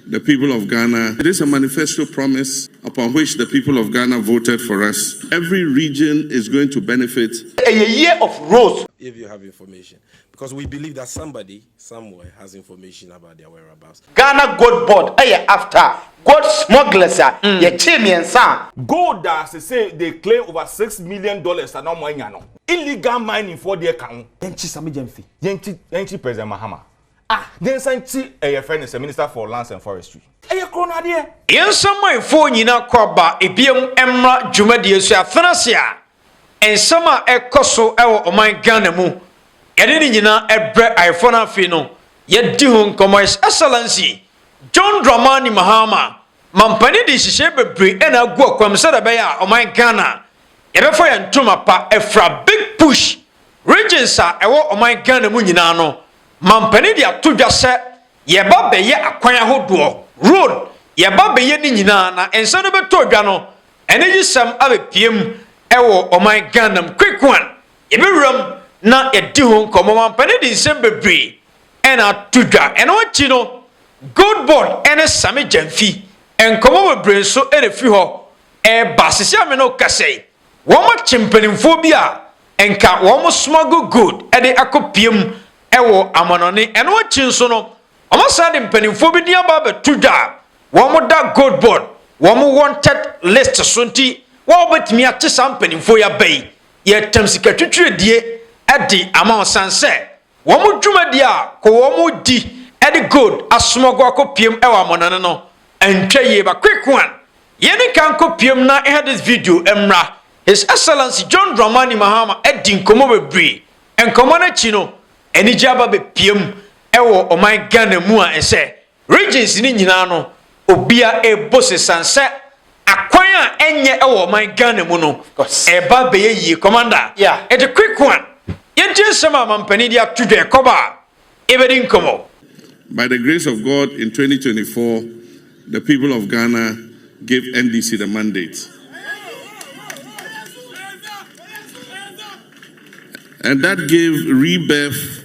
The people of Ghana, it is a manifesto promise upon which the people of Ghana voted for us, every region is going to benefit. Ɛyɛ year of rose. If you have information because we believe that somebody somewhere has information about their whereabouts. Ghana Gold Board yɛ after gold smugglers a yɛkyee mmiɛnsa a. Gold a sesei they claim over six million dollars a na wɔn anya no. Illegal mining foɔ deɛ ka ho. Yɛnkyi Sammy Gyamfi, yɛnkyi President Mahama. A nyansa nti yɛfrɛ no sɛ Minister for Lands and Forestry. Ɛyɛ koro no adeɛ. Yɛnsɔ manfoɔ nyina kɔ aba biam mmra dwumadie so afena se a nsɛm a ɛkɔ so wɔ ɔman Ghana mu yɛde ne nyina brɛ ayefoɔ no afei no yɛdi ho nkɔmmɔ His Excellency John Dramani Mahama Mampani de nhyehyɛe bebree na agu ɔkwam sɛdeɛ ɛbɛyɛ a ɔman Ghana yɛbɛfa yɛn ntoma pa afira big push regions a ɛwɔ ɔman Ghana mu nyina no Mampanin de ato dwa sɛ, Yɛba bɛyɛ akwan ahodoɔ, road, yɛba bɛyɛ ne nyinaa na nsa no bɛtɔ dwa no, anigyesɛm abɛpue mu wɔ ɔman Ghana mu. Quick one, yɛbɛwura mu na yɛadi ho nkɔmmɔ. Mampanin de nsɛm bebree na ato dwa. Ɛno akyi no, Gold Board ne Sammy Gyamfi, nkɔmmɔ bebree nso na ɛfiri hɔ reba. Seesei a me ne wo kasa yi, Wɔakye mpanimfoɔ bi a nka wɔn smuggle good de akɔ pia mu wɔ amanɔne. Ɛno akyi nso no, wɔasan de mpanimfoɔ bi din aba abɛto dwa a wɔda Gold Board wɔn wanted list so nti wo a wobɛtumi akye saa mpanimfoɔ yi aba yi, yɛretam sikatwitwiredie de ama wo sane sɛ Wɔn dwumadi a kɔ wɔn di de gold asomɔgo akɔpiem wɔ amɔnane no ntwa yie ba quick one yɛni kan kɔ piem na nhɛ this video mmra His Excellency John Dramani Mahama adi nkɔmmɔ bebree nkɔmmɔ no akyi no anigye aba bɛpiem wɔ ɔman Ghana mu a ɛsɛ Regions no nyinaa no obia rebɔ sesan sɛ akwan a ɛnyɛ wɔ ɔman Ghana mu no ɛreba abɛyɛ yie. Commander, ɛde quick one yɛntie nsɛm a mampanin de ato dwa ɛkɔba a yɛbɛdi nkɔmmɔ. By the grace of God in twenty twenty four the people of Ghana gave NDC the mandate and that gave rebirth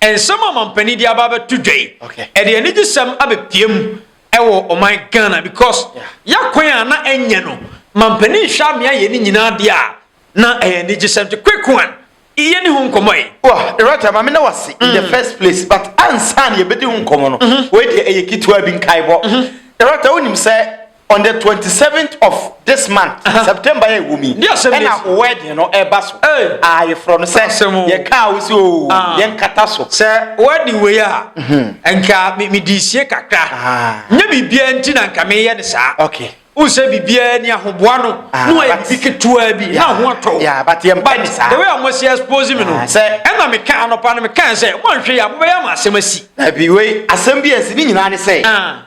Nsɛm a mampanin de aba abɛto dwa yi, ɛde anigyesɛm abɛpia mu wɔ ɔman Ghana because yɛakwan a na ɛnyɛ no mampanin hwɛ amea yɛ ne nyinaa deɛ a na ɛyɛ anigyesɛm nti quick one yɛ ne ho nkɔmmɔ yi. Wɔ Loretta maame na wase in the mm. first place but ansa na yɛbɛdi ho nkɔmmɔ no mm-hmm. wei deɛ ɛyɛ ketewa bi nkaebɔ mm-hmm. Loretta wonim sɛ On the twenty seventh of this month, uh -huh. September yɛ wɔ mu yi, ɛna o wedding no ɛba so. Ah, yɛfrɛ no sɛ yɛka a wosi o ah. yɛn kata so. Sɛ wedding wei a, mhm. nka mi di sie kakra. Ah. Nye biribiara nti na nka meyɛ ne saa. Okay. N sɛ biribiara ni ahoboa no, ah, na ɔyɛ bibi ketewa bi, na ho atɔ. Yeah, but yɛn pɛ ne saa. The way a mo si expose mi no, sɛ ɛna mi ka anɔpa no mi ka sɛ, mo nhwɛ yɛ a, mo bɛyɛ ama asɛm asi. Ɛbi wei asɛm bi asi ne nyinaa ne sɛ.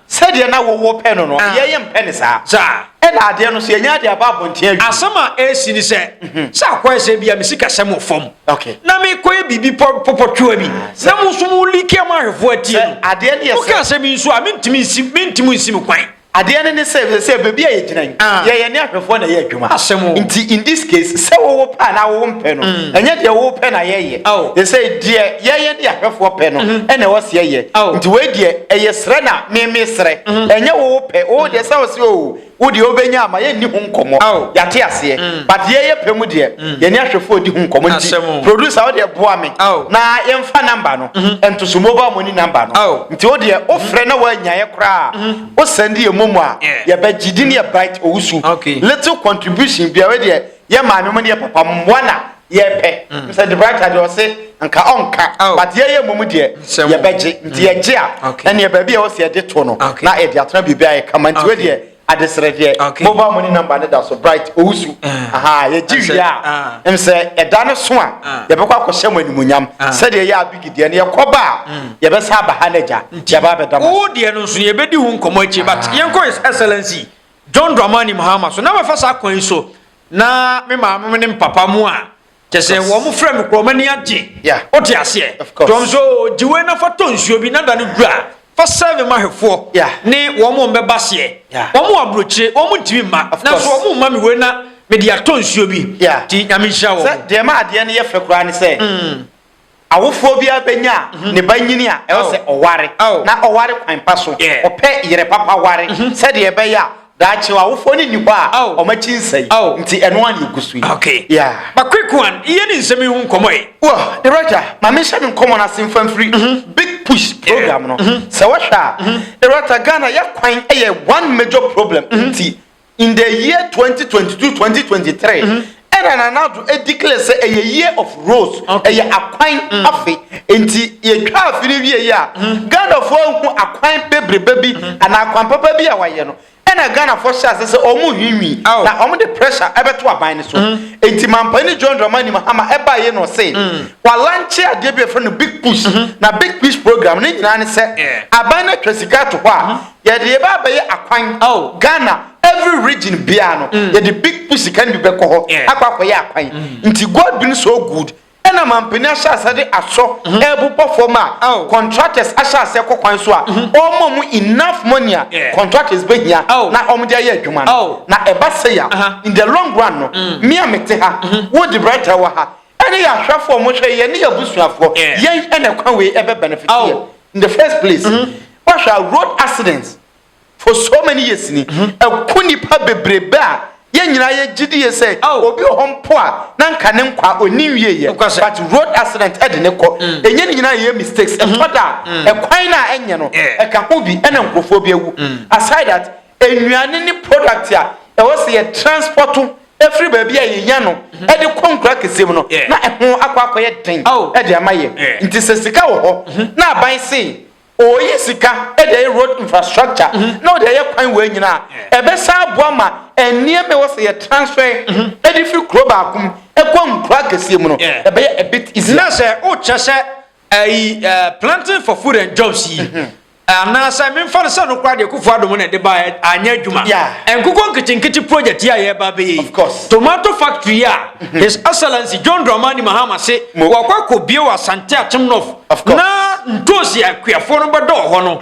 Sɛdeɛ na wo wo pɛ no no, yɛn yɛn mpɛ no saa. Saa. Ɛna adeɛ no so yɛn yɛn de aba abɔnten awie. Asɛm a ɛresi ne sɛ, mhm. sɛ akɔyɛ sɛ bia me sikasɛm wɔ fam. Okay. Na mekɔyɛ biribi pɔpɔtwewa bi. Ah, na mo nso mo like ama ahwɛfoɔ atie no. Adeɛ no yɛ sɛ. Woka sɛ me nso a mentumi nsi mentumi nsi me kwan. Adeɛ no ne sɛ sɛ baabi a yɛgyina yi ah. yɛyɛ ne ahwɛfoɔ na ɛyɛ adwuma. Asɛm o. Nti in this case sɛ wowo pɛ anaa wowo mpɛ no mm. ɛnyɛ deɛ wowo pɛ na yɛyɛ. ɛsɛ deɛ yɛyɛ ne ahwɛfoɔ pɛ no mhm. ɛna ɛwɔ seɛ yɛ nti wei deɛ ɛyɛ serɛ na meme serɛ mhm. ɛnyɛ wo pɛ wo deɛ sɛ wo se o wo deɛ wobɛnya ama yɛnni ho nkɔmmɔ yɛate aseɛ mm. but deɛ yɛ pɛ mu deɛ mm. yɛne ahwɛfoɔ di ho nkɔmmɔ nti producer wo deɛ boa me na yɛmfa namba no mhm. ɛntoso mobile money namba no nti wo deɛ wofrɛ na woanyaeɛ koraa wosɛnde yɛ momu a yɛbɛgye di ne yɛ bite owusu little contribution biara deɛ yɛ maame mu ne yɛ papa mu mmoa na yɛpɛ mm. mr debrata deɛ ɔse nka ɔnka oh. but yɛyɛ mmom deɛ yɛbɛgye mm. nti yɛgye a ɛneɛ baabi a ɛwɔ sɛ yɛde to no na yɛde atena biribi a yɛkama nti wei deɛ adesrɛ deɛ mobile money number ne da so bright owusu eh. aha yɛgye wie a ah. m sɛ ɛda no so a ah. yɛbɛkɔ akɔhyɛ mo animonyam ah. sɛdeɛ yɛ abigi deɛ no yɛkɔba a mm. yɛbɛsa aba ha no agya yɛba bɛda mo deɛ no nso yɛbɛdi ho nkɔmmɔ akyi but yɛnkɔ excellency John Dramani Mahama so. Na mɛfa saa kwan yi so na me maame mo ne me papa mo a kyɛ sɛ wɔn frɛ me korɔ wɔn ani agye wote aseɛ nti wɔn so gye wei na fa tɔ nsuo bi na da no dura fa sɛve ma hwɛfoɔ ne wɔn mo mbɛba seɛ wɔn mo aburokyire wɔn mo ntumi mma nanso wɔn mo mma me wei na mede atɔ nsuo bi nti nyame nhyira wɔn. sɛ deɛ ma adeɛ no yɛ fɛ koraa ne sɛ mm. Awofoɔ biara bɛnya a mhm. ne ba nyini a ɛwɔ sɛ ɔware na ɔware kwan pa so ɔpɛ yere papa ware mhm. sɛdeɛ ɛbɛyɛ a daakye awofoɔ no nni hɔ a ɔma kyi nsɛe nti ɛno a ne ɛgu so yi bakoekoan yɛ ne nsɛm yi ho nkɔmmɔ yi the rɔgya ma menhyɛ me nkɔmmɔ no ase mfa mfiri mhm. big push program no sɛ wɔhwɛ a the rɔgya ghana yɛ kwan yɛ one major problem nti In the year twenty twenty two twenty twenty three ɛna Nana Addo declare sɛ ɛyɛ year of rose ɛyɛ akwan mm. afe nti yɛtwa afe no wie yi a mm. Ghanafoɔ ahu akwan bebrebe bi mm. anaa akwan papa bi a wayɛ no ɛna Ghanafoɔ hyɛ ase sɛ wɔn hwinwi na wɔn de pressure ɛbɛto aban no so nti mampanin John Dramani Mahama ɛbaa yɛ na ɔse walanche adeɛ bi a yɛfrɛ no big push na big push program ne nyinaa ne sɛ aban no atwa sika ato hɔ a Yɛde yɛbɛ abɛyɛ akwan. Oh. Ghana every region biara no mm. yɛde big pussy kan bi bɛkɔ hɔ yeah. akɔ akɔyɛ akwan. Mm. Nti God been so good ɛna mampanin ahyɛ ase de asɔ mm-hmm. ɛrebobɔ fam a oh. contractors ahyɛ ase kɔ kwan so a mm-hmm. ɔmɔ mu enough money a yeah. contractors bɛhia oh. na ɔmo de ayɛ adwuma no oh. na ɛba sɛ ya uh-huh. in the long run no mm. mmea mete ha mm-hmm. wo de brɛta wɔ ha ɛne yɛ ahwɛfoɔ mo hwɛ yɛ ne yɛ abusuafoɔ yɛn ɛna kwan wei ɛbɛ benefit yɛ in the first place. Mm-hmm. Woahwɛ a road accident for so many years ni, ɛko nnipa bebrebe a yɛn nyinaa yɛgye die sɛ obi wɔ hɔ mpo a na nka ne nkwa ɔnni nwieɛ, but road accident ɛde ne kɔ. Ɛnyɛ ne nyinaa na ɛyɛ mistakes, ɛtɔ da a ɛkwan no a ɛnyɛ no ɛka ho bi ɛna nkorɔfoɔ bi awu. Aside that, nnuane ne product a ɛwɔ sɛ yɛ transport firi baabi a yɛnya no de kɔ nkuro akɛseɛ mu no na ɛho akɔ akɔyɛ den de ama yɛn. Nti sɛ sika wɔ hɔ na aban se Oyi sika de ayɛ road infrastructure na ɔde ayɛ kwan wei nyina a, ɛbɛsan aboa ma nneɛma ɛwɔ sɛ yɛ transfer de firi kuro baako mu kɔ nkuro akɛseɛ mu no ɛbɛyɛ a bit easier. Na sɛ wokyerɛ sɛ ɛyi planting for food and jobs yi anaasɛ memfa no sɛ no koraa deɛ Kufuor Adom na ɛde baeɛ anyɛ adwuma nkokɔ nketenkete project yi a yɛreba abɛyɛ yi tomato factory yi a his excellency John Dramani Mahama se wɔkɔ akɔbie wɔ Asante Akyem North Of course. Na ntoosi akuafoɔ no bɛdɔ wɔ hɔ no,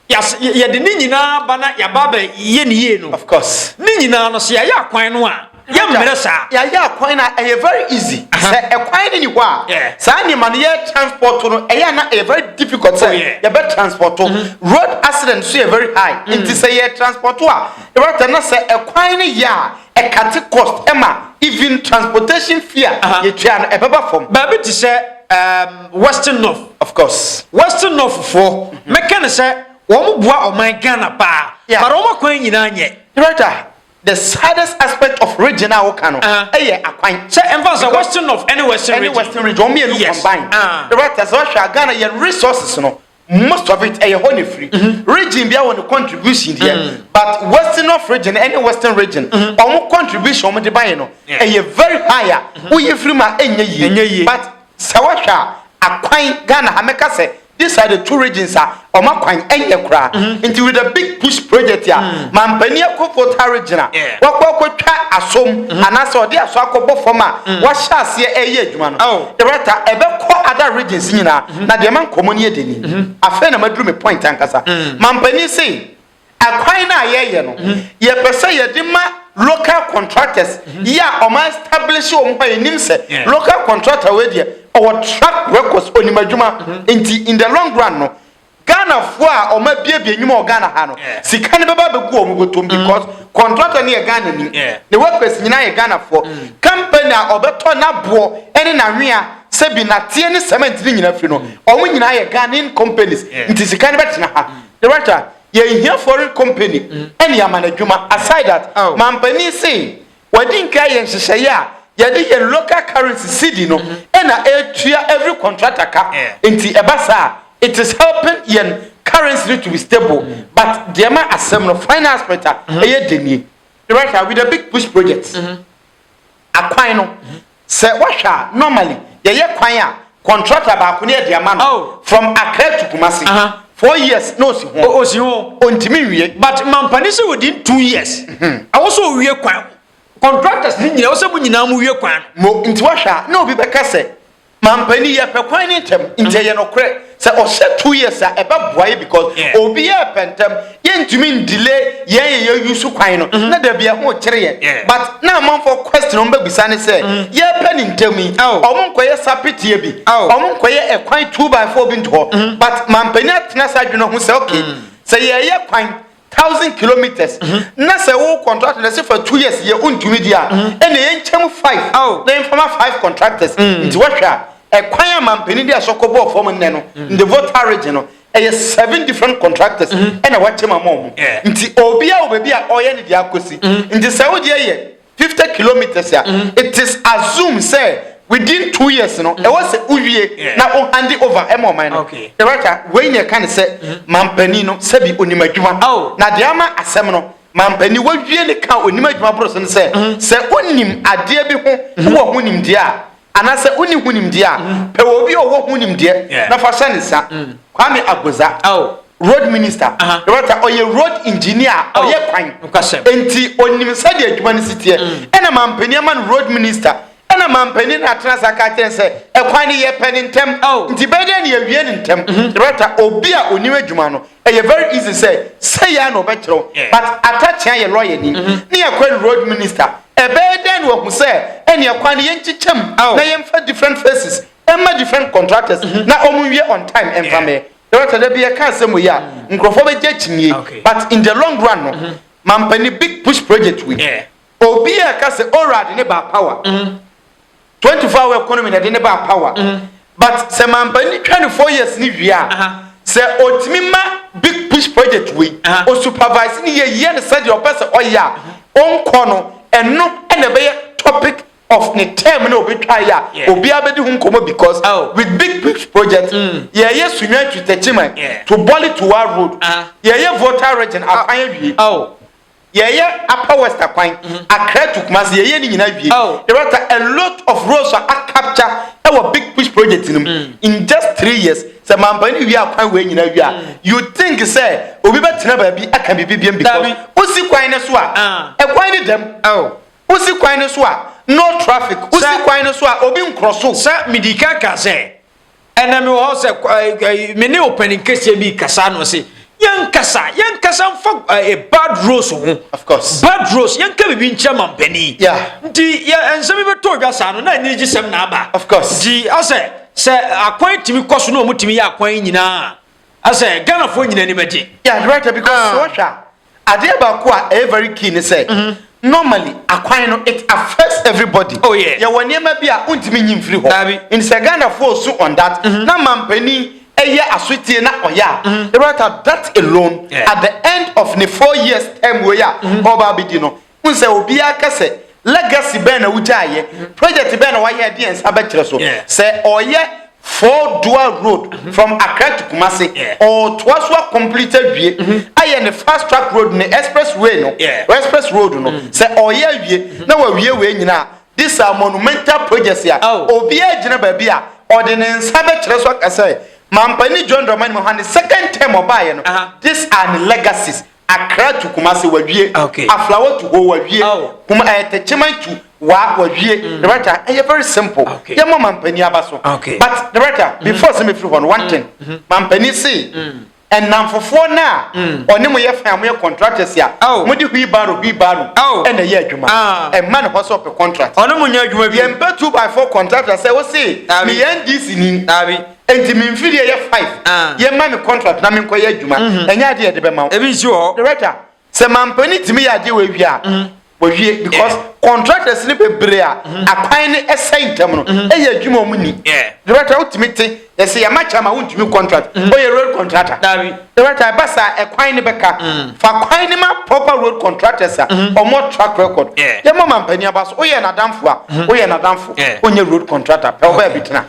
yɛas- yɛ- yɛde ne nyinaa ba na yɛaba abɛyɛ ne yie no. Of course. Ne nyinaa no, sɛ yɛayɛ akwan no a, yɛmmerɛ saa. yɛayɛ akwan no a ɛyɛ very easy Aha. sɛ ɛkwan no ni hɔ a Yeah. saa nneɛma no yɛ transport no ɛyɛ a na ɛyɛ very difficult sɛ Oh, yeah. Mm-hmm. yɛbɛ transport to road accident so yɛ very high nti sɛ yɛ transport to a ɛwɔ na sɛ ɛkwan no yɛ a Ɛkate cost ma even transportation fee a yɛtua no ɛbɛba fam. Baabi te sɛ um, Western North. Of course. Western North foɔ, mɛka no sɛ wɔn boa ɔman Ghana paa, yeah. but wɔn akwan nyinaa nyɛ. Director, the saddest aspect of region a woka no ɛyɛ akwan. Sɛ ɛnfa sɛ Western North ɛne Western region. Ɛne Western region, wɔn mmienu combine. Director, sɛ wɔhwɛ a Ghana yɛn resources no. most of it ɛyɛ hɔ na efiri mm-hmm. region bia wɔ ne contribution deɛ mm-hmm. but western of region ɛne western region wɔn mm-hmm. contribution wɔn de ba yɛ no ɛyɛ very high a woyɛ firi ma ɛnyɛ yie but sɛ wɔhwɛ a akwan ghana ha mɛka sɛ these are the two regions a wɔn akwan ɛnyɛ koraa nti with a big push project a mm. mampanin akofo ta region a wɔkɔ akɔtwa asom anaasɛ ɔde aso akɔbɔ fam a wɔahyɛ aseɛ ɛyɛ adwuma no director ɛbɛkɔ other regions nyinaa. na deɛ ma nkɔmmɔ no yɛ dɛ ni, afei na maduru me point ankasa. Mampanin se akwan no a yɛyɛ no, yɛpɛ sɛ yɛde ma local contractors yi a wɔn establish wɔn ho a yɛnim sɛ local contractor wei deɛ ɔwɔ track records, onim adwuma nti in the long run no Ghanafoɔ a wɔn abiebie nnwuma wɔ Ghana ha no sika no bɛba abɛgu wɔn bɔtɔm because contractor no yɛ Ghana ni, ne workers nyinaa yɛ Ghanafoɔ, company a ɔbɛtɔ n'aboɔ ne n'anwea. sɛ bi nateɛ ne cement ne nyina firi no ɔmo nyinaa yɛ Ghanaian companies nti sika no bɛtena ha director yɛnhia foreign company ɛne ama no adwuma aside that oh. mampanin se wɔde nka yɛ nhyehyɛeɛ a yɛde yɛn local currency cedi no ɛna ɛtua every contractor ka nti ɛba saa it is helping yɛn currency no to be stable mm. but deɛ ma asɛm no final aspect a ɛyɛ denie director with a big push project mm-hmm. akwan no mm-hmm. Sɛ woahwɛ a normally yɛyɛ kwan a contractor baako ne ɛde ama no from Accra to Kumasi four years na osi ho. Osi ho. Ontumi nwie. But Mampani sɛ within two years ɛwɔ sɛ owie kwan no. Contractors ne nyinaa ɛwɔ sɛ mo nyinaa mo wie kwan no. Mo nti woahwɛ a na obi bɛka sɛ Mampani yɛpɛ kwan no ntɛm nti ɛyɛ nokorɛ. Sɛ ɔhyɛ two years a ɛbɛboa yɛ because Yeah. obiara pɛ ntɛm yɛntumi ndile yɛn yɛ yɛyi so kwan no na dabi ɛho kyere yɛn Mm-hmm. Yeah. Mm. but na amanfoɔ question a wɔbɛbisa ne sɛ yɛpɛ ne ntɛm yi Oh. ɔmo nkɔyɛ sapeteɛ bi Oh. Mm-hmm. ɔmo nkɔyɛ ɛkwan two by four bi nto hɔ but mampanin atena saa adwene ho sɛ okay Mm. sɛ yɛyɛ kwan thousand kilometres mm-hmm. na sɛ wo contract na sɛ fa two years yɛ wontumi di a mm-hmm. ɛna yɛnkyɛm five oh. na yɛmfama five contractors mm. nti wohwɛ a ɛkwan a mampanin de asɔkɔ bɔɔ fam nnɛ no mm. the voter region no ɛyɛ seven different contractors mm-hmm. ɛna wakyɛm ama ɔmo nti obiara wɔ baabi a ɔyɛ ne deɛ akɔsi nti sɛ wodeɛ yɛ fifty kilometres a mm-hmm. it is assumed sɛ within two years no mm-hmm. ɛwɔ sɛ wowie na wo hand over ɛma ɔman no director wei na ɛka ne sɛ mm-hmm. mampanin no sɛbi onim adwuma oh. na deɛ ama asɛm no mampanin wawie ne ka onim adwuma boro so no sɛ sɛ onim adeɛ bi ho wɔ ho nimdeɛ a Anaa sɛ wonni ho nimdeɛ a, pɛ obi a ɔwɔ ho nimdeɛ na fa hyɛ ne nsa. Kwame Agodza, road minister, yɛbɛta ɔyɛ road engineer a ɔyɛ kwan, enti ɔnim sɛdeɛ adwuma no si teɛ. Ɛna mampanin ama no road minister. Ɛna mampanin no atena ase aka akyerɛ no sɛ, ɛkwan no yɛpɛ no ntɛm, nti bɛyɛ dɛn na yɛawie no ntɛm? Yɛbɛta obi a ɔnim adwuma no. ɛyɛ very easy sɛ sɛ yɛ na ɔbɛkyerɛw but atakyea yɛ lɔya ni mm-hmm. ne yɛ kwari road minister ɛbɛyɛ dɛn na wahu sɛ ɛne ɛkwan no yɛnkyekyɛm na yɛmfa different faces ɛma different contractors mm-hmm. na ɔmo nwie on time ɛmfa mɛ dɔkta dɛbi yɛ kaa sɛ mo yi a mm. nkurɔfoɔ bɛgye akyinie ah, but in the long run no mm-hmm. mampani big push project wi obi a ɛka sɛ orad ne ba power twenty four hour economy na ɛde ne baa power mm. but sɛ mampa ni twa ne four years ni wie a sɛ otumi ma big push project wei o supervise ne yɛ yie ne sɛdeɛ ɔpɛ sɛ ɔyɛ a ɔnkɔ no ɛno ɛna ɛbɛyɛ topic of ne term na obetwa yɛ a obiara bɛdi ho nkɔmɔ because oh. with big push project mm. yɛyɛ sunya twitɛkyi man to bɔli to wa road yɛyɛ voter region akwan awie. yɛyɛ upper west akwan mm-hmm. accra to kumasi yɛyɛ ne nyinaa wie oh. there are a lot of roads a capture ɛwɔ big push project no mu mm. in just three years sɛ mampa ne wie akwan wei nyinaa wie a mm. you think sɛ obi bɛtena baabi aka biribi biam because wosi kwan no so a ah. ɛkwan ne dɛm oh. wosi kwan no so a no traffic wosi kwan no so a obi nkorɔ so sɛ medika ka sɛ ɛnɛ mewɔ hɔ sɛ eh, me ne ɔpanin kɛseɛ bi kasa no se yɛnkasa yɛnkasa mfa eh, bad rose ho of course bad rose yɛnka biribi nkyerɛ ma mpanin yeah. nti nsɛm bi bɛtɔ odwa saa no na ani gye sɛm na aba of course nti asɛ sɛ akwan tumi kɔ so na ɔmotumi yɛ akwan nyinaa asɛ ghanafoɔ nyina anim agye yeah, right, because ah. wɔhwɛ a Adeɛ baako a ɛyɛ very key ne sɛ normally akwan no it affects everybody. Oh yeah. Yɛwɔ nneɛma bi a wontumi nyi mfiri hɔ. Daabi. Nti sɛ Ghanafoɔ su on that na manpanin yɛ asotie na ɔyɛ a, Yɛbɛrata that alone Yeah. at the end of ne four years term wei a ɔreba abɛdi no, wohu sɛ obiara ka sɛ legacy bɛn na wogyaeɛ project bɛn na wayɛ ɛde yɛn nsa bɛkyerɛ so sɛ ɔyɛ four dual road mm-hmm. from Accra to Kumasi ɔtoa so akɔmplete awie mm-hmm. ayɛ ne fast track road ne express way no express road no mm-hmm. sɛ ɔyɛ awie na wawie wei nyinaa this are monumental projects a oh. obiara gyina baabi a ɔde ne nsa bɛkyerɛ so aka sɛ mampani john dramani mahane second term ɔbaeɛ no these are the legacies Accra to Kumasi wawie. Okay. Aflawa to hɔ wawie. Oh. Kuma ɛɛ eh, Techiman to wa wawie. Mm. Director ɛyɛ very simple. Okay. Yɛ mɔ mampanin aba so. Okay. But director mm-hmm. before sɛ mi firi hɔ no one mm-hmm. thing mm-hmm. mampanin se mm. ɛnamfofoɔ no a mm. ɔne mo yɛ fɛn a mo yɛ contractors a oh. mo de hui baro hui baro oh. ɛna ɛyɛ adwuma ah. ɛma ne hɔ sɛ ɔpɛ contract. ɔno mo nyɛ adwuma bi. yɛn pɛ two by four contractor sɛ o se mi yɛn di si ni. Enti me mfe deɛ yɛ five. Yɛ ma me contract na me nkɔ yɛ adwuma. Ɛnyɛ adeɛ yɛde bɛ ma wo. Ebi nsi wɔ hɔ. Director, sɛ mampanin tumi yɛ adeɛ wɔ awie a, wɔ wie because contractors no bebree a akwan no ɛsɛe ntɛm no ɛyɛ adwuma wɔn ni. Director, wo tumi te yɛ sɛ yɛ ma kyɛ ama wo ntumi contract. Wo yɛ road contractor. Director, ɛba saa ɛkwan no bɛka. Fa kwan no ma proper road contractors a wɔn wɔ track record. Yɛ ma mampanin aba so. Wo yɛ nadamfo a, wo yɛ nadamfo. Wo nyɛ road contractor pɛ wo baabi tena.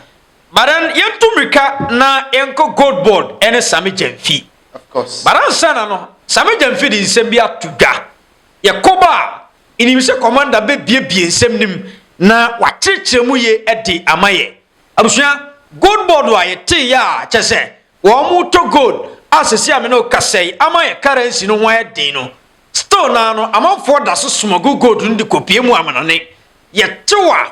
But then yɛntu mmirika na yɛnkɔ Gold Board ne Same Gyamfi. Of course. But ansa na no, Same Gyamfi de nsɛm bi ato dwa. Yɛkɔ ba a, nnim sɛ Commander bɛbiebie nsɛm no mu na wakyerɛkyerɛ mu ye de ama yɛ. Abusua, Gold Board a yɛteeɛ a kyerɛ sɛ wɔretɔ gold a seesei a me ne wo kasa yi ama yɛ currency no ho ayɛ den no, still no ara no amanfoɔ da so smuggle gold no de kɔpue mu amanɔne. Yɛtew a,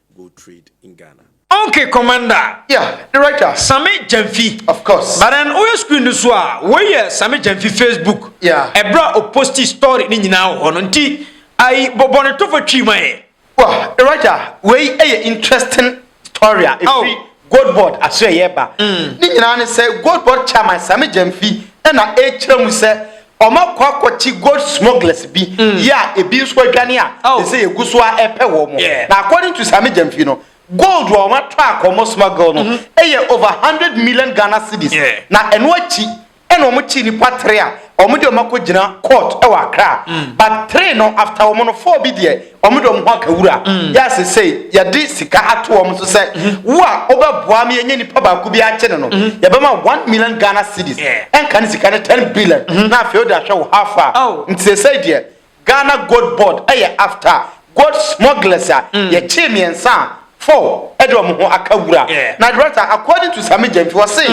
go trade in Ghana. Ok commander yeah the writer same gyamfi of course but then woyɛ screen no so a wei yɛ same gyamfi facebook yeah ɛberɛ a ɔposti story ne nyinaa wɔ hɔ no nti ayi bɔbɔ ne tɔfɔ twii ma yɛ wɔ the writer wei yɛ interesting story a ɛfiri goldboard aso ɛyɛ ba mm. ne nyinaa ne sɛ goldboard chairman same gyamfi ɛna ɛkyerɛ mu sɛ Wɔakɔ akɔkye gold smugglers bi yi a ebi nso adwane a seesei egu so ara repɛ wɔn. Na according to Sami Gyamfi no, gold a wɔatɔ akɔ wɔn smuggle no yɛ over hundred million Ghana cedis. Na ɛno akyi na wɔkyee nnipa three a wɔde wɔn akɔgyina court wɔ Accra. But three no after wɔn no four bi deɛ, Wɔn de wɔn ho aka wura. Mm. Yɛ sesei yɛde sika ato wɔn so sɛ mm-hmm. wo a wobɛboa me yɛnyɛ nipa baako bi akye no no mm-hmm. yɛbɛma one million Ghana cedis ɛnka ne sika ne ten billion mm-hmm. na afei wode ahwɛ wo how far oh. nti sesei deɛ Ghana Gold Board ɛyɛ after gold smugglers a mm. yɛkyee mmiɛnsa a four ɛde wɔn ho aka wura na director according to Sami Gyamfi wɔse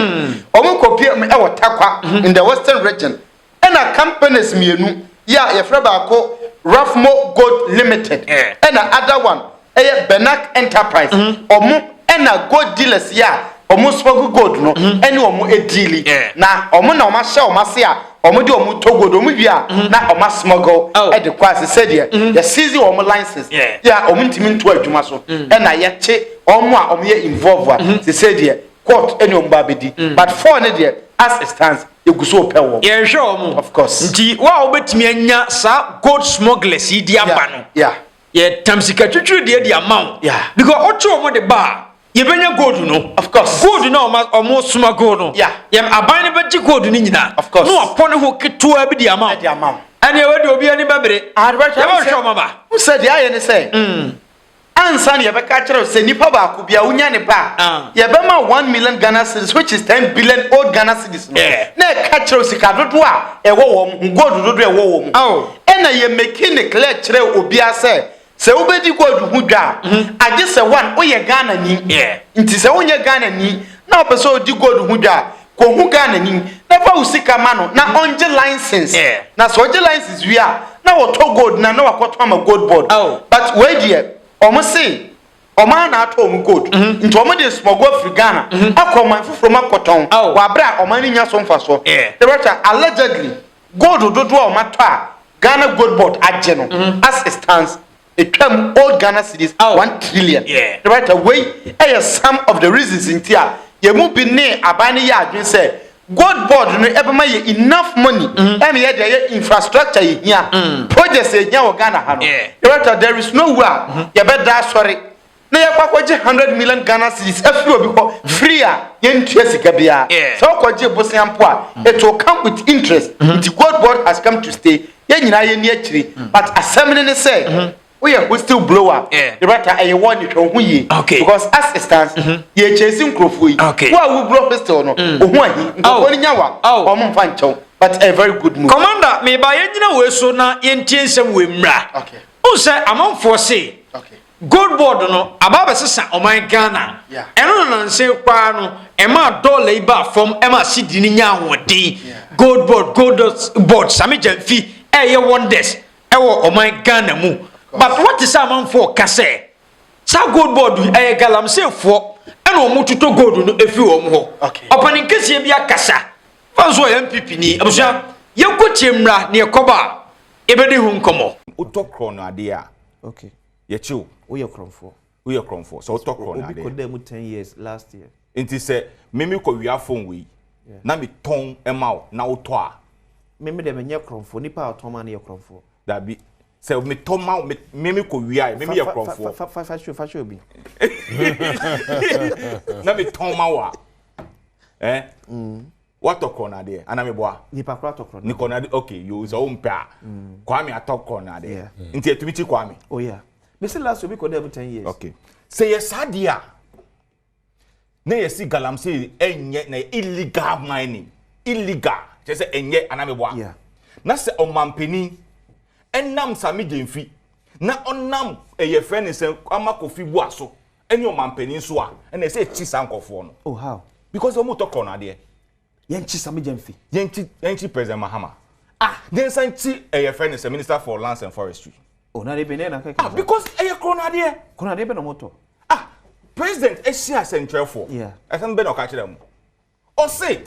wɔn kɔ pm ɛwɔ Takwa in the western region Ɛna companies mmienu yɛ a yɛfrɛ baako Raffmo Gold Limited ɛna other one ɛyɛ Benak Enterprise ɔmo ɛna gold dealers yɛ a ɔmo smuggle gold no ɛne ɔmo ɛdiili na ɔmo na ɔmo ahyɛ ɔmo ase a ɔmo de ɔmo tɔ gold ɔmo wie a na ɔmo a smuggle ɛde kɔ ase sɛ deɛ yɛ seize ɔmo license yɛ a ɔmo ntumi nto adwuma so ɛna yɛkye ɔmo a ɔmo yɛ involve a sesei deɛ court ɛne ɔmo ba abɛdi but four no deɛ as it stands yɛgu so pɛ wɔn. yɛhwɛ wɔn. of course. nti wo a wobɛtumi anya saa gold smugglers yi di aba no. yeah yɛtam sika twitwiri deɛ de ama wo. yeah because wokye wɔn de ba a yɛbɛnya gold no. of course. gold no a wɔn smuggle no. yeah yɛn aban no bɛgye gold no nyinaa. of course. na wɔapɔ ne ho ketewa bi de ama wo. de ama wo. ɛnna ɛwɔ de obi ani bɛbere. adebɛtɔ ah, yɛbɛhwɛ wɔn aba. n sɛ deɛ ayɛ ne sɛ. Mm. Ansa na yɛbɛka akyerɛ wo sɛ nipa baako bia wonya ne ba a, ah. yɛbɛma 1 million Ghana cedis which is 10 billion old Ghana cedis no. Yeah. Na ɛka kyerɛ wo sika dodoɔ a ɛwɔ wɔn ho, gold dodoɔ a ɛwɔ wɔn ho. Oh. Ɛna yɛ meki ne clear kyerɛ obiara sɛ sɛ wobɛdi gold ho dwa a, mm-hmm. agye sɛ one woyɛ Ghana ni. Nti sɛ wonyɛ Ghana ni na wopɛ sɛ odi gold ho dwa a, kɔ hu Ghana ni na fa wo sika ma no na ɔngye license yeah. na sɛ ɔgye license wie a na wɔtɔ gold na na wakɔtɔ ama gold board oh. but wei deɛ ɔmo se ɔmaa na atɔ ɔmo gold mm -hmm. nti ɔmo de smɔgo afiri Ghana mm -hmm. akɔ ɔman foforɔ mu akɔtɔn oh. wɔ abere a ɔman no nya so nfa soɔ yeah. ɛbɛtwa allegedly gold dodoɔ a ɔmo atɔ a Ghana gold board agye no mm -hmm. as it stands ɛtwam old Ghana cedis ah. one trillion yeah. ne right wei ɛyɛ some of the reasons nti a yɛn mu bi ne aban no yɛ adwene sɛ gold board no ɛbɛma yɛ enough money mm-hmm. ɛna yɛ de ɛyɛ infrastructure yɛ hia mm. projects yɛ hia wɔ Ghana ha no ne right there is no way a mm-hmm. yɛbɛda asɔre na yɛkɔ akɔgye hundred million Ghana cedis afiri obi hɔ free a yɛntua sika biara. Yeah. Sɛ wokɔgye bosea mpo a, mm. it will come with interest. Mm-hmm. Nti God word has come to stay. Yɛn nyinaa yɛn ni akyiri. Mm. But asɛm ne ne sɛ. Mm-hmm. woyɛ hostel blower yɛbɛta ɛyɛ wɔ ne hwɛ ho yie because as it stands mm-hmm. yɛ kyɛnse nkurɔfoɔ yi wo a woburo hostel no mm. ohun ahi nkurɔfoɔ no nya wa wɔn mfa nkyɛw but a very good move. commander meba yɛn nyina wɔ so na yɛn tie nsɛm wɔ mmira. okay. n sɛ amanfoɔ se. okay. Gold board no aba abɛsesa ɔman Ghana. Ɛno na nansa yi koraa no ɛmaa dɔla yi baa fam ɛmaa CD no nya ahoɔden. Gold board, gold board, Same Gyamfi ɛreyɛ wonders ɛwɔ ɔman Ghana mu. But wote sɛ amanfoɔ ka sɛ saa gold board yi ɛyɛ galamseefoɔ ɛna wɔn totɔ gold no ɛfiri wɔn hɔ. Ɔpanin kɛseɛ bi akasa. Fa nso ɔyɛ NPP ni. Abusua, yɛnkɔtie mmra na yɛkɔba a yɛbɛdi ho nkɔmmɔ. Wotɔ korɔ no adeɛ a. okay yɛkye wo woyɛ korɔmfoɔ woyɛ korɔmfoɔ sɛ wotɔ korɔ na adeɛ obi kɔ dɛ mu ten years last year nti sɛ mimi kɔ wia phone wei na mi tɔn ɛma wo na wotɔ a mimi dɛ menyɛ korɔmfoɔ nipa a ɔtɔn ma no yɛ korɔmfoɔ dabi sɛ mi tɔ ma mi mimi kɔ wia yɛ mimi yɛ korɔmfoɔ fa fa fa fa fa obi na mi tɔn ma wa ɛ. Eh? Mm. Watɔ kɔnɔnadeɛ ana meboa. Nipa koro atɔ kɔnɔnadeɛ. Ne kɔnɔnadeɛ okay yoo sɛ wɔn mpɛ a mm. Kwame atɔ kɔnɔnadeɛ nti ɛtumi ti Kwame. Oh yeah mesi last obi kɔ dɛ mu ten years. okay sɛ yɛ saa deɛ a na yɛ si galamsey ɛnyɛ na illegal mining illegal kyerɛ sɛ ɛnyɛ ana meboa. yeah na sɛ ɔmampanin ɛnam sami gyemfi na ɔnam ɛyɛ fɛ ne sɛ ama kofi bu aso Ɛne ɔmanpanin nso a ɛna ɛsɛ ɛkyi saa nkurɔfoɔ no. Oh how? Because wɔn tɔ korɔ no adeɛ. Yɛn kyi Samija nfi. Yɛn kyi yɛn kyi President Mahama. Ah yɛn san kyi ɛyɛ fɛ ne sɛ Minister for Lands and Forestry. Oh na de bɛ ne na kɛkɛ. Ah because ɛyɛ korɔ no adeɛ. Korɔ no adeɛ bɛ na wɔn tɔ. Ah President ɛsi asɛntwerɛfoɔ. Yeah. Ɛsɛm bɛ na ɔka kyerɛ mu. Ɔse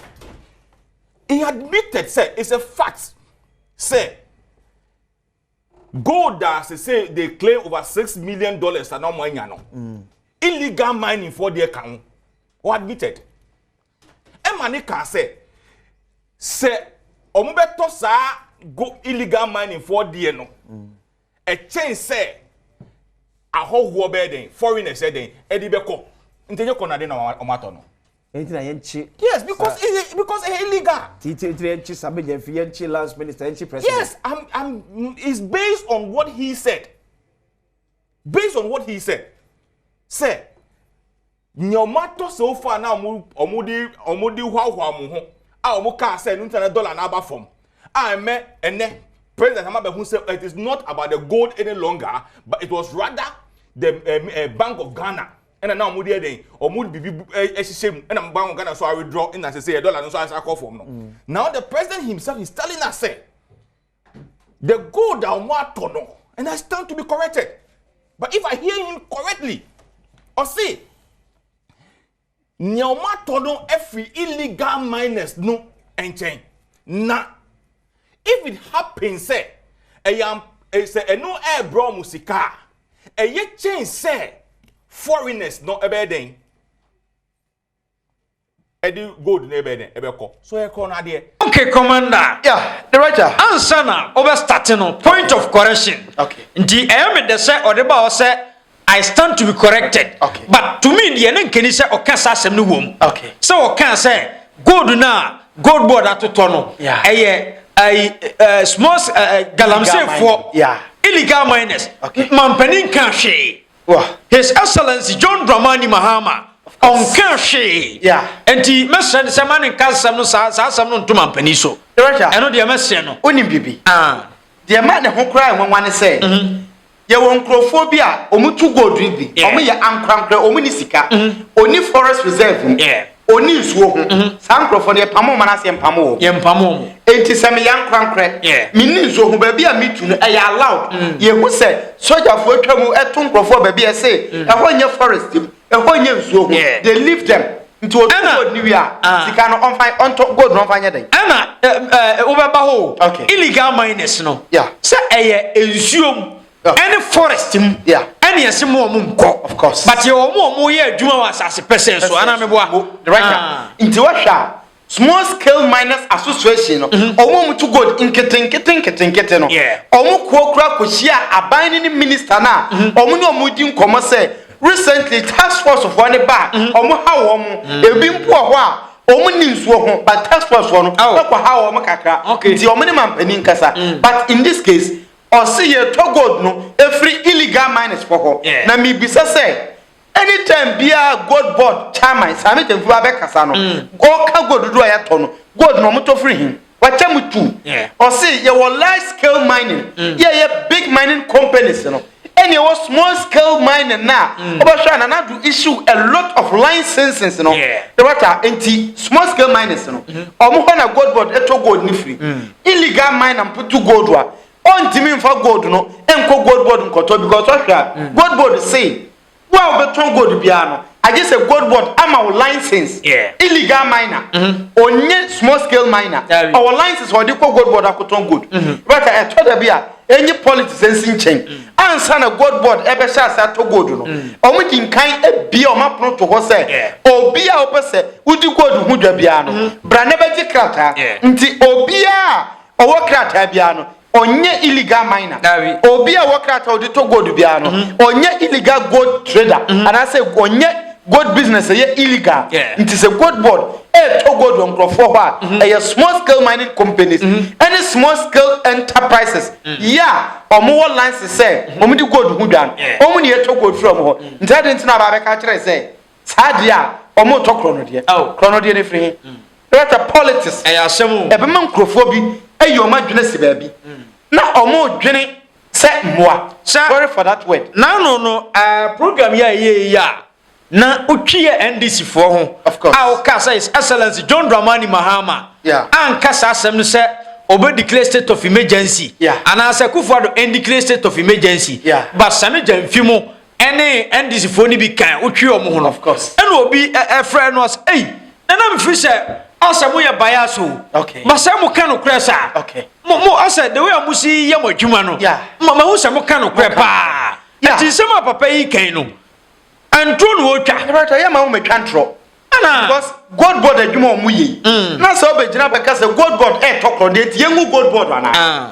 he admitted sɛ it's a fact sɛ Gold a sesei they claim over six million dollars a na wɔn anya no, illegal mining foɔ deɛ ka ho. Wɔ admitted. Ɛma ne kaa sɛ, sɛ wɔn bɛtɔ saa go illegal mining foɔ deɛ no, ɛkyɛn sɛ ahɔhoɔ bɛyɛ dɛn, foreigners yɛ dɛn, ɛde bɛkɔ. Nti ɛnyɛ kɔnade na wɔn atɔ no. Enti na yɛn kye. Yes because ehe because ehe illegal. Ti ti ti yɛn kye Sabeja fi yɛn kye lance minister yɛn kye president. Yes I'm I'm it's based on what he said based on what he said sɛ nea ɔmo atɔ so far na ɔmo ɔmo de ɔmo de hwahwa ɔmo ho a ɔmo kaa sɛ ɛnu tena dollar na aba fam a ɛmɛ ɛnɛ president ama bɛ ho sɛ it is not about the gold any longer but it was rather the uh, uh, bank of ghana ɛna na wɔn de ɛdɛn wɔn de bibi ɛhyehyɛ mu ɛna mo ba wɔn Ghana so awedrɔ ɛna sɛ sɛ yɛ dɔla no nso ayɛ akɔ fam no mm. now the president himself is telling us sɛ the gold a wɔn atɔ no and I stand to be corrected but if I hear him correctly ɔsi nea wɔn atɔ no ɛfiri illegal miners no nkyɛn na if it happens sɛ ɛyɛ sɛ ɛno ɛɛbrɛ wɔn sika a. ɛyɛ kyɛn sɛ foreigners no ɛbɛyɛ dɛn ɛde gold no ɛbɛyɛ dɛn ɛbɛkɔ so ɛkɔ no adeɛ. okay commander. ya director. ansa na ɔbɛ start no point of correction. okay nti ɛyɛ mi dɛ sɛ ɔde ba hɔ sɛ i stand to be corrected. okay but to me deɛ ne nkeni sɛ ɔka saa asɛm no wɔ mu. okay sɛ ɔka sɛ gold na gold board atotɔ no ɛyɛ ɛyi ɛɛ small ɛɛ galamseefoɔ illegal miners mampanin kan hwee his excellence john dramani mahama ɔnkan hwee nti mɛsrɛ ne sɛ ma ne nka nsɛm no saa saa asɛm no nto mampanin so ɛno deɛ mɛsrɛ no wonim biribi ah. deɛ ma ne ho koraa nwanwa ne sɛ mhm. Yɛwɔ nkurɔfoɔ bi a wɔn tu gold bi, wɔn yɛ ankorankorɛ, wɔn ni sika, mm-hmm. oni forest reserve mu, oni nsuo ho. Mm-hmm. Saa nkurɔfoɔ no yɛpamo wɔn anaasɛ yɛmpamo wɔn? Yɛmpamo wɔn. Enti sɛ meyɛ ankorankorɛ, me ni nsuo ho, baabi a metu no ɛyɛ allowed. Mm. Yɛhu sɛ sogyafoɔ atwa mu ɛto nkurɔfoɔ baabi ɛse mm. ɛhɔ nyɛ forest mu, Ɛhɔ nyɛ nsuo ho. Yeah. They leave them. Nti obi Ɛna- gold ni wie a, Ah. sika no ɔnfa ɔntɔ gold no ɔnfa nyɛ dɛn? ɛna ɛ- ɛ, wobɛba hɔ o. Okay. illegal miners no Yeah. sɛ ɛyɛ nsuo mu Yeah. ɛne forest mu Yeah. ɛne ɛse mu ɔmo nkɔ Of course. but yɛ ɔmo ɔmo yɛ adwuma wɔ asase pɛsɛɛ so anaa meboa Director. Ah. Nti wohwɛ a Small Scale Miners Association no, mm-hmm. wɔn a wɔtu gold nketenkete nketenkete no, wɔn kuo kura kɔhyia aban no ne minista no a mm-hmm. wɔn ne wɔn di nkɔmmɔ sɛ recently task force foɔ ne ba mm-hmm. wɔn ha wɔn mm. ebi mpo wɔ hɔ a wɔn ni nsuo ho but task force foɔ no bɛkɔ oh. ha wɔn kakra nti wɔn ne mampanin kasa mm. but in this case ɔsi yɛ tɔ gold no efiri illegal miners fɔ hɔ na mibisa sɛ. Anytime biara gold board kya man saa me gyamfi wa bɛ kasa no ɔka gold dodo a yɛtɔ no gold no ɔmo tɔ firi hin wakyɛ mo tu ɔse yɛwɔ large scale mining mm. yɛyɛ big mining companies no ɛne ɛwɔ small scale mining na mm. ɔbɛhwɛ a nana do issue a lot of licenses no ɛwata nti small scale miners no mm-hmm. ɔmo hɔ na gold board ɛtɔ gold ne firi mm. illegal miner mputu gold wa Ɔntumi nfa gold no nkɔ gold board nkɔtɔ because ɔhwɛ a, gold board se wo a wobɛtɔn gold biara no, agye sɛ gold board ama wo license. Illegal miner, ɔnyɛ small scale miner, ɔwɔ license a ɔde kɔ gold board akɔtɔn gold. But ɛtɔ da bi a, enye politics nsi nkyɛn, ansa na gold board bɛhyɛ ase atɔ gold no, wɔde nkan abue wɔn apono to hɔ sɛ, obi a wopɛ sɛ wodi gold ho dwa biara no, bra na bɛgye krataa. Nti obiara a. Ɔwɔ krataa biara no, ɔnyɛ illegal miner. Dabi. Obi a ɔwɔ krataa a ɔde tɔ gold biara no, mm-hmm. ɔnyɛ illegal gold trader. Mm-hmm. Anaasɛ ɔnyɛ gold business ɛyɛ illegal. Nti sɛ gold board ɛretɔ gold wɔ nkurɔfoɔ hɔ a, mm-hmm. ɛyɛ small scale mining companies ɛne small scale enterprises yɛ a wɔn wɔ license sɛ wɔn de gold ho dwan. Wɔn na yɛtɔ gold firi wɔn hɔ. Nti ɛde nti na aba abɛka kyerɛ sɛ Saa adeɛ a wɔn retɔ korɔnodeɛ. Oh. Korɔnodeɛ no firi he. Mm. Ɛbɛtɛ politics. Ɛyɛ asɛm o. Ɛbɛma nkurɔfoɔ bi ayi wɔn adwene si baabi. Mm. Na wɔn dwene sɛ mmoa. Sɛ sorry for that word. N'ano no ɛɛ eh, program yi a ɛyɛ yi a na wotwi yɛ NDC foɔ ho. Of course. A wɔka sɛ his excellence John Dramani Mahama. Yeah. Anka saa asɛm no sɛ obe declare state of emergency. Yeah. Anaasɛ Kufuor do ɛn declare state of emergency. Yeah. Ba sani gya nfi mu. ɛne NDC foɔ no bi kan wotwi wɔn ho no ɛna obi ɛfrɛ no ɔsɛ ɛyi nana mefiri sɛ asɛ mo yɛ baya so ma sɛ mo ka no korɛ saa mo mo asɛ the way a mo si yɛ mo adwuma no ma ma ho sɛ mo ka no korɛ paa ɛti nsɛm a papa yi kan no ɛntoro na ɔtwa ɛbɛtɔ yɛ ma ho mɛtwa ntorɔ ana because gold board adwuma wɔn yɛ mm. na sɛ ɔbɛgyina bɛka sɛ gold board ɛɛtɔ korɔ deɛ ti yɛn gu gold board ana. Ah.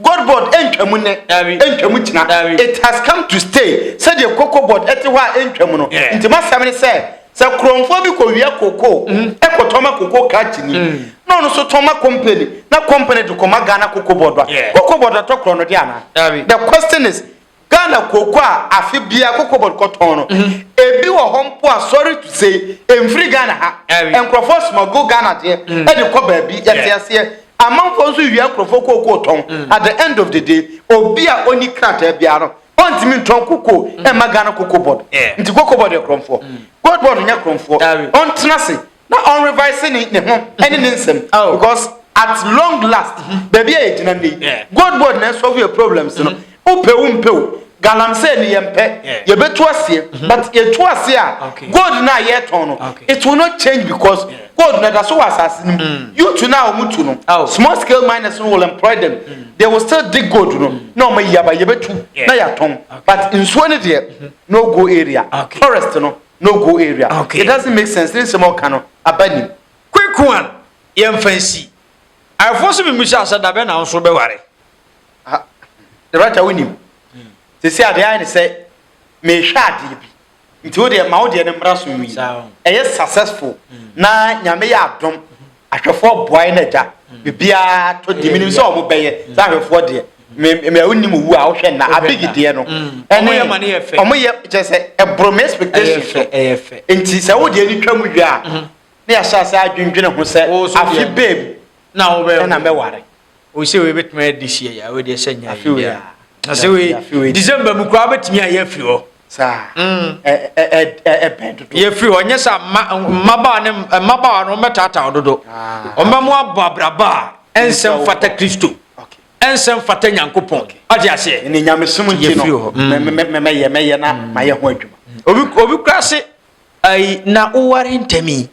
Gold board ɛntwam nnɛ, ɛntwam gyina. It has come to stay sɛdeɛ cocoa board ɛte hɔ a ɛntwam no. Nti m'asɛm ne sɛ, sɛ korɔmfoɔ bi kɔwia cocoa ɛkɔtɔn ma cocoa krakyenii na ɔno nso tɔn ma company na company de kɔma Ghana cocoa board a, cocoa board atɔ korɔnɔdeɛ anaa? The question is, Ghana kooko a afe biara Cocobod kɔtɔn no, ebi wɔ hɔ mpo a sorry to say ɛmfiri Ghana ha. Nkurɔfoɔ smuggle Ghana deɛ de kɔ baabi. Yɛte aseɛ. Amanfoɔ nso wia nkurɔfoɔ kooko tɔn. At the end of the day, obi a ɔnni krataa biara no, ɔntumi ntɔn kokoo mma Ghana Cocobod. Nti Cocobod yɛ korɔmfoɔ. Cocobod nyɛ korɔmfoɔ. Ɔntena ase Na ɔn revise ne ne ho ɛne ne nsɛm oh. because at long last mhm. baabi a yɛgyina nnɛ yi god board na ɛsɔfo yɛ problems no mhm. wopɛ wo mpɛ o galamsey no yɛmpɛ yɛbɛtu aseɛ mhm. but yɛtu aseɛ a gold no a yɛtɔn no it will not change because gold no da so wɔ asase no mu mm. youth no a wɔmutu no oh. small scale miners no will employ them mm. they will still dig gold no mm. na ɔma yi aba yɛbɛtu na yɛatɔn but nsuo no deɛ no go area forest no no go area it doesn't make sense ne nsɛm a ɔka no aba nim. Quick one yɛnfa nsi. Ayefo so mimisa sɛ dabɛn na wonso bɛware. Ah, the right wo nim. Sisi ade ayɛ ne sɛ mehwɛ adeɛ bi. Nti wo deɛ ma wo deɛ ne mmra so nwi. Ɛyɛ successful na nyame yɛ adom. ahwɛfoɔ boae no agya biribiara to deɛ menim sɛ ɔmo bɛyɛ sɛ ahwɛfoɔ deɛ mɛ wonim owu a wohwɛ na abigi deɛ no ɛne ɔmo yɛ kyerɛ sɛ ɛboro me expectation so nti sɛ wo deɛ ni twa mu wie a ne yɛahyɛ ase adwendwene ho sɛ afe bɛɛ mu na mɛware o sɛ wei bɛtumi ayɛ this year yɛ wei deɛ sɛ nyɛ yɛ yɛ na sɛ wei december mu koraa bɛtumi ayɛ afiri hɔ saa mm. ɛbɛn dodo yɛfiri hɔ nyɛ sɛ mmabaa ne mmabaa no wɔbɛtaataa dodo ah. wɔbɛmo abɔ abraba a ɛnsɛm fata kristo ɛnsɛm fata nyankopɔn ɔde aseɛ ne nyamesom nti no mɛyɛ mɛyɛ na mm. mayɛ ho adwuma obi kura se na woware ntɛmi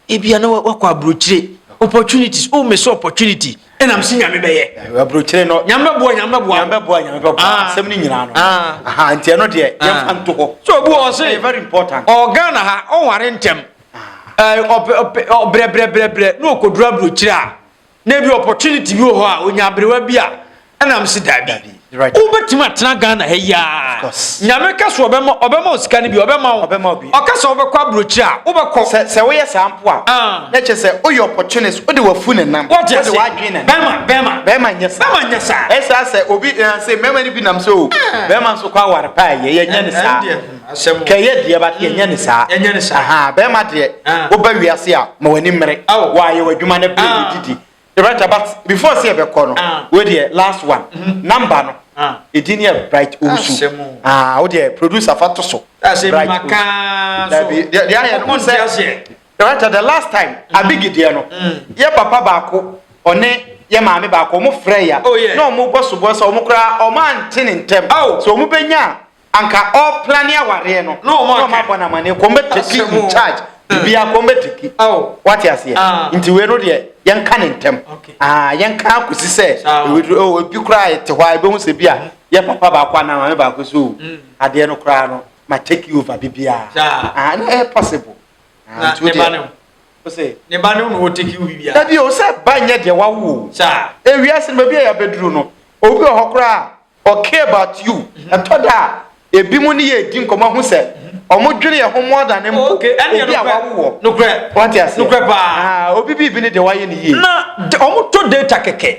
Ebia na wakɔ aburokyire opportunities o oh, mesi opportunity ɛna mesi nyame bɛyɛ. Eh, aburokyire no nyame bɛboa nyame bɛboa nyame bɛboa nyame bɛboa ah. asɛm ne nyinaa no ah. aha nti ɛno deɛ ah. yɛmfa nto hɔ. so obi wɔ ɔse very important ɔgana ha ɔnware ntɛm eh, brɛbrɛbrɛbrɛ na ɔkɔduru aburokyire a Na ebi opportunity bi wɔ hɔ a onya aberewa bi a ɛna msi daabi wobɛtumi atena ghana ha yi ara nyame ka so ɔbɛma ɔbɛma wo sika no bi ɔbɛma wo ɔka sɛ wobɛkɔ aburokyiri a wobɛkɔ sɛ woyɛ saa mpo a ah. na kyerɛ sɛ woyɛ opportunist wode wafu ne nam wode wadwene ne bɛma bɛma bɛma nyɛ saa bɛma nyɛ saa ɛsaa sɛ obi eh, sɛ mmarima no bi nam sɛ o oh, ah. bɛma nso kɔ aware paa yɛ yɛnyɛ ne saa Kɛ ɛyɛ deɛ but yɛnyɛ no saa. Ahaa bɛɛma deɛ woba wiase a ma w'ani mmere wɔ ayɛ w'adwuma na bere bi didi. Director but before sɛ yɛbɛkɔ no wei deɛ last one number no edin yɛ Bright Owusu ahaa wo deɛ producer fa to so Bright Owusu daabi deɛ ayɛ no wohu sɛ director the last time Abigi deɛ no yɛ papa baako ɔne yɛ maame baako wɔn frɛ ya na wɔn bɔ soboɔ sɛ wɔn koraa wɔn ante ne ntɛm sɛ wɔn bɛnya a. anka ɔ plane awareɛ no na ɔmo abɔ no amaneɛ kɔm bɛ take in charge biribiaa kɔm bɛ take wate aseɛ nti wei no deɛ yɛnka no ntɛm aah yɛnka akɔsi sɛ oh ebi koraa yɛte hɔ a yɛbɛhu sɛ bi a yɛ papa baako anaa maame baako sɛ oh adeɛ no koraa no ma take over biribiaa aah na ɛyɛ possible aah nti wo deɛ ɔsɛ ne ba no na ɔ take over biribiaa dabi o sɛ ba nyɛ deɛ wawo o ewiase no baabi a yɛabɛduru no obi wɔ hɔ koraa a Ok about you ɛtɔ da a ebinom ne yɛ redi nkɔmmɔ ahu sɛ wɔn dwene yɛ ho more than mpo obi a wawo wɔ wate aseɛ obi biribi ne deɛ wayɛ ne yie na wɔn tɔ data kɛkɛ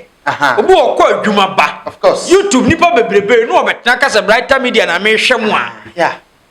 obi wɔ kɔ adwuma ba youtube nipa bebrebe na wɔbɛtena kasa brighter media na mehwɛ mu a